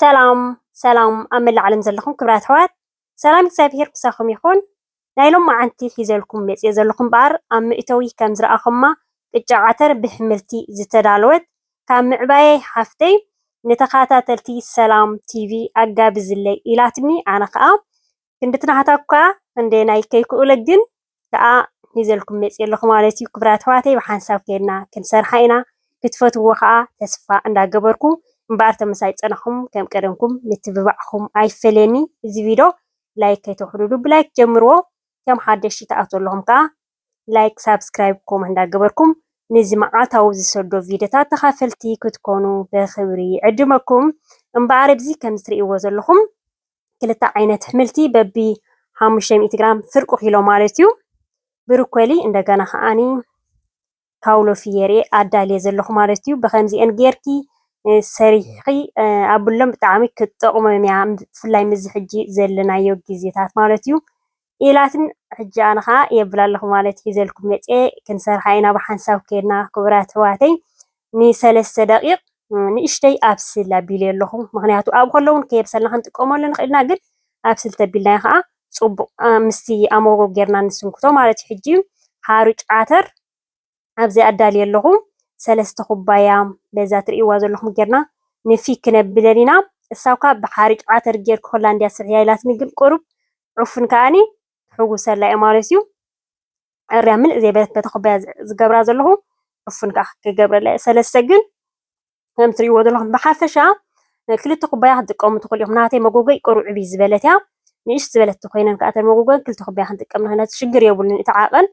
ሰላም ሰላም ኣብ መላእ ዓለም ዘለኹም ክብራት ኣሕዋት ሰላም እግዚኣብሄር ምሳኹም ይኹን። ናይ ሎማዓንቲ ሒዘልኩም መጽየ ዘለኹ እምበኣር ኣብ መእተዊ ከም ዝረኣኹማ ቅጫ ዓተር ብሕምልቲ ዝተዳለወት ካብ ምዕባየይ ሓፍተይ ንተኻታተልቲ ሰላም ቲቪ ኣጋብዝለይ ኢላትኒ ኣነ ከኣ ክንድቲ ናህታ እኳ ክንደየናይ ከይክኡለ ግን ከኣ ሒዘልኩም መጽየ ኣለኹ ማለት እዩ ክብራት ኣሕዋተይ ብሓንሳብ ከይድና ክንሰርሓ ኢና ክትፈትውዎ ከኣ ተስፋ እንዳ ገበርኩ እምበኣር ተመሳይ ጸናኹም ከም ቀደምኩም ምትብባዕኩም ኣይፈለየኒ እዚ ቪዶ ላይክ ከይተውሕዱሉ ብላይክ ጀምርዎ ከም ሓደሽቲ ትኣትዉ ኣለኹም ከኣ ላይክ ሳብስክራይብ ኮመህ እንዳ ገበርኩም ንዚ መዓልታዊ ዝሰዶ ቪደታት ተኻፈልቲ ክትኮኑ ብኽብሪ ይዕድመኩም እምበኣር እዚ ከምዚ ትርእይዎ ዘለኹም ክልተ ዓይነት ኣሕምልቲ በቢ ሓሙሽተ ሚእቲ ግራም ፍርቁ ኪሎ ማለት እዩ። ብርኮሊ እንደገና ከዓኒ ካውሎ ፍየሬ ኣዳልየ ዘለኹ ማለት እዩ። ብከምዚኤን ጌርኪ ሰሪሕኺ ኣብሎም ብጣዕሚ ክትጠቕሞም እያ ብፍላይ ምስዚ ሕጂ ዘለናዮ ግዜታት ማለት እዩ። ኢላትኒ ሕጂ ኣነ ከኣ የብል ኣለኩ ማለት ሒዘልኩም መጽየ ክንሰርሓ ኢና ብሓንሳብ ኬድና ክቡራት ኣሕዋተይ ንሰለስተ ደቂቅ ንእሽተይ ኣብስል ኣቢለዮ ኣለኩ ምክንያቱ ኣብኡ ከሎ ውን ከየብሰልና ክንጥቀመሉ ንክእል ኢና ግን ኣብስል ተቢልናዮ ከኣ ጽቡቅ ምስቲ ኣሞጎ ጌርና ንስንክቶ ማለት ዩ ሕጂ ሓሩጭ ዓተር ኣብዚ ኣዳልየ ኣለኹ ሰለስተ ኩባያ በዛ ትርእይዋ ዘለኹም ጌርና ንፊግ ክነብለን ኢና እሳ እኳ ብሓርጭ ዓተር ጌርኪ ሆላንድያ ስርሕያ ኢላትኒ ግን ቁሩብ ዑፉን ከኣኒ ክሕውሰላ እየ ማለት እዩ ዕርያ ምልእ ዘይበለት በታ ኩባያ ዝገብራ ዘለኹ ዑፉን ከኣ ክገብረላ እየ ሰለስተ ግን ከም ትሪእዎ ዘለኹም ብሓፈሻ ክልተ ኩባያ ክትጥቀሙ ትኽእሉ ኢኹም። ናተይ መጎጎይ ቅሩዕብ እዩ ዝበለት እያ ንእሽት ዝበለት ኮይነን ከዓ እተን መጎጎን ክልተ ኩባያ ክንጥቀም ንኽእል ነቲ ሽግር የብሉን እቲ ዓቐን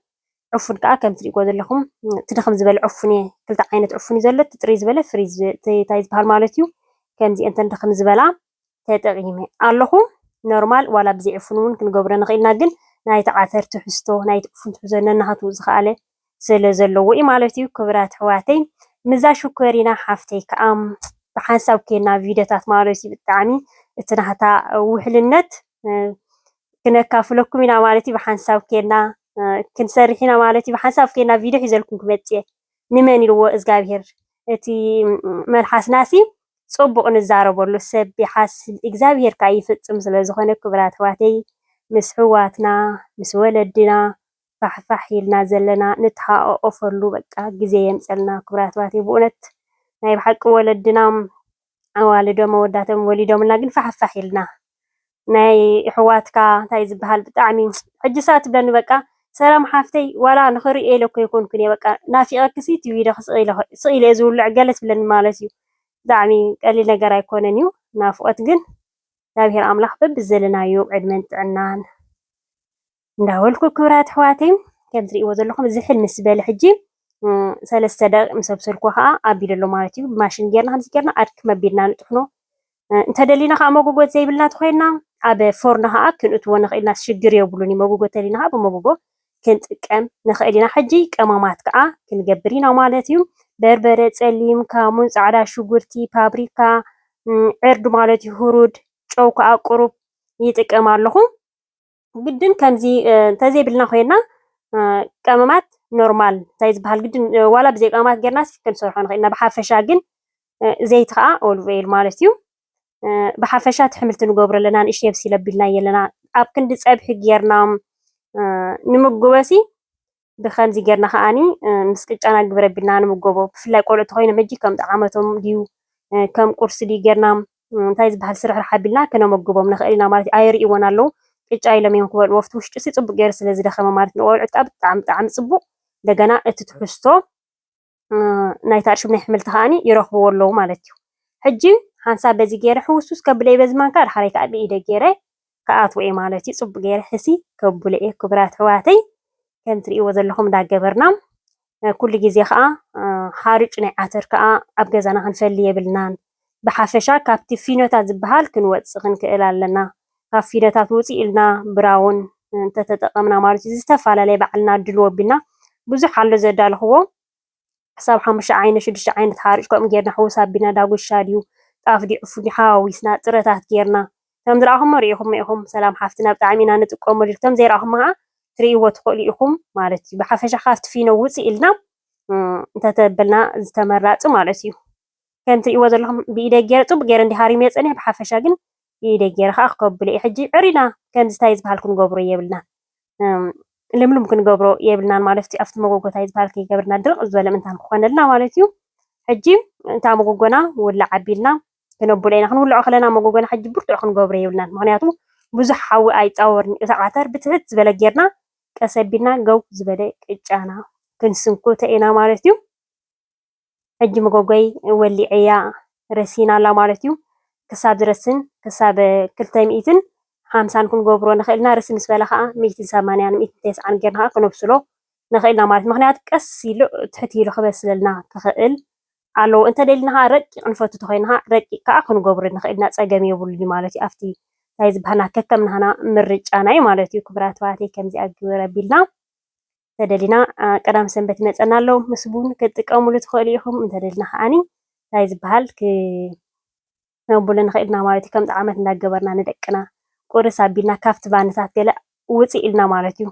ዕፉን ከዓ ከም ትሪእዎ ዘለኹም እቲ ድኽም ዝበለ ዕፉን እየ ክልተ ዓይነት ዕፉን እዩ ዘሎ እቲ ጥርይ ዝበለ ፍሪ እንታይ ዝበሃል ማለት እዩ ከምዚ እንተን ድኽም ዝበላ ተጠቂመ ኣለኹ ኖርማል ዋላ ብዘይ ዕፉን እውን ክንገብሮ ንኽእል ኢና ግን ናይቲ ዓተር ትሕዝቶ ናይቲ ዕፉን ትሕዝቶ ነናሃቱ ዝኸኣለ ስለ ዘለዎ እዩ ማለት እዩ ክብራት ኣሕዋተይ ምዛ ሽኮሪና ሓፍተይ ከዓ ብሓንሳብ ኬና ቪድዮታት ማለት እዩ ብጣዕሚ እቲ ናህታ ውሕልነት ክነካፍለኩም ኢና ማለት እዩ ብሓንሳብ ኬና ክንሰርሕ ኢና ማለት እዩ ብሓንሳብ ኬና ቪድዮ ሒዘልኩም ክመፅእ እየ ንመን ኢልዎ እዝጋብሄር እቲ መልሓስናሲ ጹቡቅ ንዛረበሉ ሰብ ይሓስብ እግዛብሄር ካኣ ይፍጽም ስለ ዝኮነ ክብራት ኣሕዋተይ ምስ ኣሕዋትና ምስ ወለድና ፋሕ ፋሕ ኢልና ዘለና ንተሓቃቆፈሉ በቃ ግዜ የምጸልና ክብራት ኣሕዋተይ ብኡነት ናይ ብሓቂ ወለድና ኣዋልዶም ኣወዳቶም ወሊዶምልና ግን ፋሕፋሕ ኢልና ናይ እሕዋትካ እንታይ ዝበሃል ብጣዕሚ ሕጂ ሰ ትብለኒ በቃ ሰላም ሓፍተይ ዋላ ንኽርእየ ኢለ እኮ ይኮንኩን እየ በቃ ናፊቐክሲ ቲቪ ኢለ ስቕ ኢለ እየ ዝውልዕ ገለ ትብለኒ ማለት እዩ ብጣዕሚ ቀሊል ነገር ኣይኮነን እዩ ናፍቖት ግን እግዚኣብሔር ኣምላኽ በብዘለናዮ ዕድመን ጥዕናን እንዳበልኩ ክብራት ኣሕዋተይ ከም ትሪእዎ ዘለኹም እዚ ሕል ምስ በለ ሕጂ ሰለስተ ደቂቕ ምስ ኣብሰልኩ ከዓ ኣቢሉ ኣሎ ማለት እዩ። ብማሽን ጌርና ከምዚ ጌርና ኣድክ መቢልና ንጥሕኖ እንተደሊና ከዓ መጎጎት ዘይብልና ተኮይና ኣብ ፎርኖ ከዓ ክንእትዎ ንኽእል ኢና ሽግር የብሉን እዩ። መጎጎ ተሊና ከዓ ብመጎጎ ክንጥቀም ንኽእል ኢና። ሕጂ ቀመማት ከዓ ክንገብር ኢና ማለት እዩ። በርበረ፣ ፀሊም ካሙን፣ ፃዕዳ ሽጉርቲ፣ ፓብሪካ፣ ዕርድ ማለት እዩ፣ ሁሩድ፣ ጨው ከዓ ቁሩብ ይጥቀም ኣለኹ። ግድን ከምዚ እንተዘይብልና ኮይና ቀመማት ኖርማል እንታይ ዝበሃል ግድን ዋላ ብዘይ ቀመማት ጌርናስ ክንሰርሖ ንኽእል ኢና ብሓፈሻ ግን ዘይቲ ከዓ ኦልቭ ኦይል ማለት እዩ ብሓፈሻ ትሕምልቲ ንገብሮ ኣለና ንእሽተይ ኣብሲለ ኣቢልና ኣለና ኣብ ክንዲ ፀብሒ ጌርና ንምጉበሲ ብኸምዚ ጌርና ከኣ ምስ ቅጫና ግብር ኣቢልና ንምገቦ። ብፍላይ ቆልዑ እንተኾይኖም ሕጂ ከም ጠዓመቶም ድዩ ከም ቁርሲ ድዩ ጌርና እንታይ ዝበሃል ስርሕራሕ ኣቢልና ከነመግቦም ንኽእል ኢና ማለት እዩ። ኣይርእይዎን ኣለዉ ቅጫ ኢሎም እዮም ክበልዎ። ኣብቲ ውሽጡሲ ጽቡቕ ጌሩ ስለ ዝደኸመ ማለት ንቖልዑት ከኣ ብጣዕሚ ብጣዕሚ ጽቡቕ እንደገና እቲ ትሕዝቶ ናይታ እርሽብ ናይ ሕምልቲ ከኣኒ ይረኽብዎ ኣለዉ ማለት እዩ። ሕጂ ሓንሳብ በዚ ገይረ ሕውስውስ ከብለየ በዚ ማንካ ዳሕራይ ከኣ ብኢደይ ገይረ ክኣትዎ እየ ማለት እዩ። ጽቡቅ ገይረ ሕስይ ከብሎ እየ ክቡራት ኣሕዋተይ ከም ትርእይዎ ዘለኹም እንዳገበርና ኩሉ ግዜ ከኣ ሓሩጭ ናይ ዓተር ከኣ ኣብ ገዛና ክንፈሊ የብልናን። ብሓፈሻ ካብቲ ፊኖታት ዝበሃል ክንወጽእ ክንክእል ኣለና። ካብ ፊኖታት ውጽእ ኢልና ብራውን እንተተጠቐምና ማለት እዩ ዝተፈላለየ ባዕልና ድልዎ ኣቢልና ብዙሕ ኣሎ ዘዳለኹዎ ክሳብ ሓሙሽተ ዓይነት ሽዱሽተ ዓይነት ሓርጭ ከምኡ ጌርና ሕውስ ኣቢልና ዳጉሻ ድዩ ጣፍ ድዩ ዕፉን ድዩ ሓዋዊስና ጥረታት ጌርና ከም ዝረኣኹሞ ርኢኹሞ ኢኹም ሰላም ሓፍትና ብጣዕሚ ኢና ንጥቀመሉ ከም ዘይረኣኹሞ ከዓ ትርእይዎ ትኽእሉ ኢኹም ማለት እዩ ብሓፈሻ ካብቲ ፊኖ ውፅእ ኢልና እንተተበልና ዝተመራፂ ማለት እዩ ከም ትርእይዎ ዘለኹም ብኢደይ ጌረ ጽቡቅ ጌረ እንዲየ ሃሪመዮ ጸኒሐ ብሓፈሻ ግን ብኢደይ ጌረ ከኣ ክከብሎ ኢየ ሕጂ ዕሪና ከምዚ ታይ ዝበሃል ክንገብሮ የብልናን ልምሉም ክንገብሮ የብልናን ማለት እዩ ኣብቲ መጎጎ ታይ ዝበሃል ከይገብርና ድርቅ ዝበለ ምንታን ክኾነልና ማለት እዩ ሕጂ እንታ መጎጎና ውላዕ ኣቢልና ክነብሎ ኢና ክንውልዖ ከለና መጎጎና ሕጂ ብርቱዕ ክንገብሮ የብልናን ምክንያቱ ብዙሕ ሓዊ ኣይጻወርን እቲ ዓተር ብትሕት ዝበለ ጌርና ቀስ ኣቢልና ገው ዝበለ ቅጫና ክንስንኩተ ኢና ማለት እዩ። ሕጂ መጎጎይ ወሊዐያ ረሲን ኣላ ማለት እዩ። ክሳብ ዝረስን ክሳብ ክልተ ሚእትን ሓምሳን ክንገብሮ ንኽእል ኢና። ርሲ ምስ በለ ከዓ ሚእትን ሰማንያን ሚእትን ተስዓን ጌርና ከዓ ክነብስሎ ንኽእል ኢና ማለት ምክንያቱ ቀስ ኢሉ ትሕት ኢሉ ክበስለልና ክኽእል ኣለዎ። እንተደሊና ከዓ ረቂቕ ንፈቱ ተኮይና ከዓ ረቂቕ ከዓ ክንገብሮ ንኽእል ኢና ፀገም የብሉን ማለት እዩ። ኣብቲ እንታይ ዝበሃልና ከከም ናህና ምርጫና እዩ ማለት እዩ። ክቡራት ኣሕዋተይ ከምዚኣ ግብር ኣቢልና እንተደሊና ቀዳም ሰንበት ይመፀና ኣሎ ምስ ቡን ክትጥቀሙሉ ትኽእሉ ኢኹም እንተደሊና ከዓኒ እንታይ ዝበሃል ክነብሉ ንኽእል ኢና ማለት እዩ ከም ጣዕመት እንዳገበርና ንደቅና ቁርስ ኣቢልና ካብቲ ባንታት ገለ ውፅእ ኢልና ማለት እዩ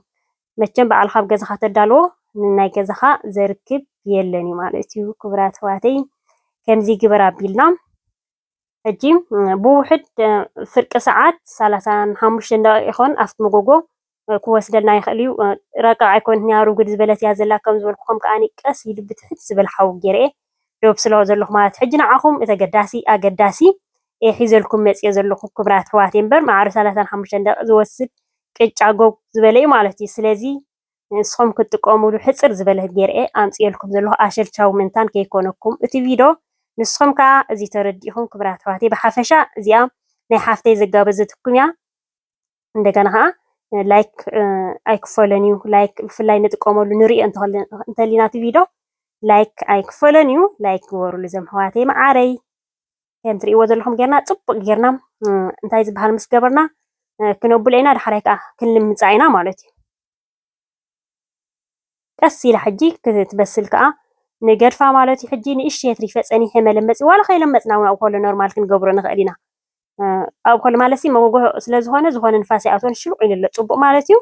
መቸም በዓል ካብ ገዛኻ ተዳልዎ ንናይ ገዛኻ ዘርክብ የለን እዩ ማለት እዩ ክቡራት ኣሕዋተይ ከምዚ ግበር ኣቢልና ሕጂ ብውሕድ ፍርቂ ሰዓት ሰላሳን ሓሙሽተን ደቂቕ ይኾን ኣብቲ መጎጎ ክወስደልና ይኽእል እዩ። ረቂቕ ኣይኮነት ኒያ ርጉድ ዝበለት እያ ዘላ ከም ዝበልኩኹም ከኣ ቀስ ኢሉ ብትሕት ዝበል ሓው ጌርየ ዶብ ስለ ዘለኹ ማለት ሕጂ ንዓኹም እቲ ኣገዳሲ ኣገዳሲ እየ ሒዘልኩም መጽየ ዘለኹ ክብራት ኣሕዋተይ እምበር ማዕረ ሰላሳን ሓሙሽተን ደቂቕ ዝወስድ ቅጫ ጎግ ዝበለ እዩ ማለት እዩ ስለዚ ንስኹም ክትጥቀሙሉ ሕጽር ዝበለት ጌር'የ ኣምጺኤልኩም ዘለኹ ኣሸልቻዊ ምእንታን ከይኮነኩም እቲ ቪዶ ንስኹም ከኣ እዚ ተረዲእኹም ክብራት ኣሕዋተይ ብሓፈሻ እዚኣ ናይ ሓፍተይ ዘጋበዘትኩም'ያ እንደገና ከኣ ላይክ ኣይክፈሎን'ዩ ላይክ ብፍላይ ንጥቀመሉ ንርእዮ እንተሊና እቲ ቪዶ ላይክ ኣይክፈሎን'ዩ ላይክ ግበሩሉ ዘም ኣሕዋተይ መዓረይ ከም ትሪእዎ ዘለኹም ጌርና ፅቡቅ ጌርና እንታይ ዝበሃል ምስ ገበርና ክነብሎ ኢና ዳሕራይ ከዓ ክንልምፃ ኢና ማለት እዩ ቀስ ኢላ ሕጂ ክትበስል ከዓ ንገድፋ ማለት እዩ ሕጂ ንእሽተይ ትሪፈ ፀኒሐ መለመፂ ዋላ ከይለመፅና እውን ኣብ ኮሎ ኖርማል ክንገብሮ ንኽእል ኢና ኣብ ኮሎ ማለት መጎጎ ስለ ዝኾነ ዝኾነ ንፋስ ይኣትዎን ሽሉቅ ኢሉ ኣሎ ፅቡቅ ማለት እዩ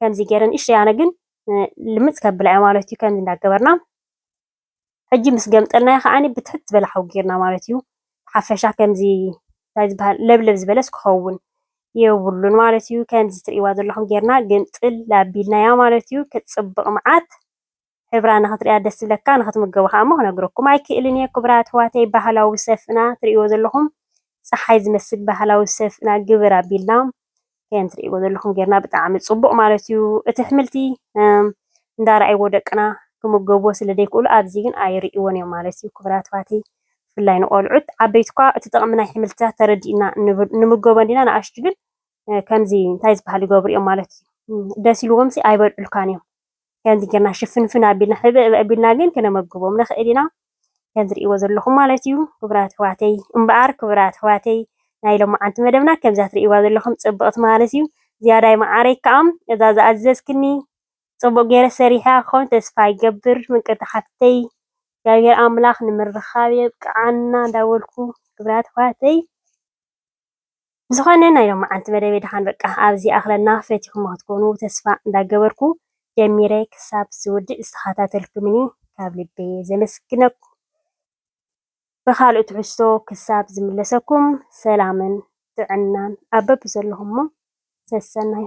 ከምዚ ገይረ ንእሽተይ ኣነ ግን ልምፅ ከብላ እያ ማለት እዩ ከምዚ እንዳገበርና ሕጂ ምስ ገምጠልናዮ ከኣ ብትሕት ዝበለ ሓዊ ጌርና ማለት እዩ ብሓፈሻ ከምዚ እንታይ ዝበሃል ለብለብ ዝበለስ ክኸውን የብሉን ማለት እዩ ከምዚ ትርእይዋ ዘለኹም ጌርና ግምጥል ኣቢልናያ ማለት እዩ ክትጽብቕ መዓት ሕብራ ንኽትርእያ ደስ ዝብለካ ንኽትምገቦ ከኣ እሞ ክነግረኩም ኣይክእልን እየ ክቡራት ኣሕዋተይ ባህላዊ ሰፍእና ትርእይዎ ዘለኹም ፀሓይ ዝመስል ባህላዊ ሰፍእና ግብር ኣቢልና ከም ትርእይዎ ዘለኹም ጌርና ብጣዕሚ ጽቡቕ ማለት እዩ እቲ ኣሕምልቲ እንዳረኣይዎ ደቅና ክምገብዎ ስለ ዘይክእሉ ኣብዚ ግን ኣይርእይዎን እዮም ማለት እዩ ክቡራት ኣሕዋተይ ብፍላይ ንቆልዑት ዓበይቲ እኳ እቲ ጥቕሚ ናይ ኣሕምልትታት ተረዲእና ንምገቦ እንዲና ንኣሽቱ ግን ከምዚ እንታይ ዝበሃል ይገብሩ እዮም ማለት እዩ ደስ ኢልዎምሲ ኣይበልዑልካን እዮም ከምዚ ጌርና ሽፍንፍን ኣቢልና ሕብእብ ኣቢልና ግን ክነመግቦም ንኽእል ኢና ከም ትርእይዎ ዘለኹም ማለት እዩ ክቡራት ኣሕዋተይ እምበኣር ክቡራት ኣሕዋተይ ናይ ሎመዓንቲ መደብና ከምዛ ትርእይዋ ዘለኹም ጽብቕቲ ማለት እዩ ዝያዳይ መዓረይ ከዓ እዛ ዝኣዘዝክኒ ጽቡቕ ገይረ ሰሪሐ ክኸውን ተስፋ ይገብር ምቅርቲ ሓፍተይ እግዚኣብሔር ኣምላኽ ንምርኻብ የብቅዓና እንዳበልኩ ክቡራት ኣሕዋተይ ብዝኮነ ናይ ሎምዓንቲ መደበይ ድሓን በቃ ኣብዚ ይኣክለና ፈቲኩሞ ክትኮኑ ተስፋ እንዳገበርኩ ጀሚረ ክሳብ ዝውድእ ዝተከታተልኩምኒ ካብ ልቢ ዘመስግነኩም ብካልእ ትሕዝቶ ክሳብ ዝምለሰኩም ሰላምን ጥዕናን ኣብ በብዘለኩሞ ሰሰናዩ።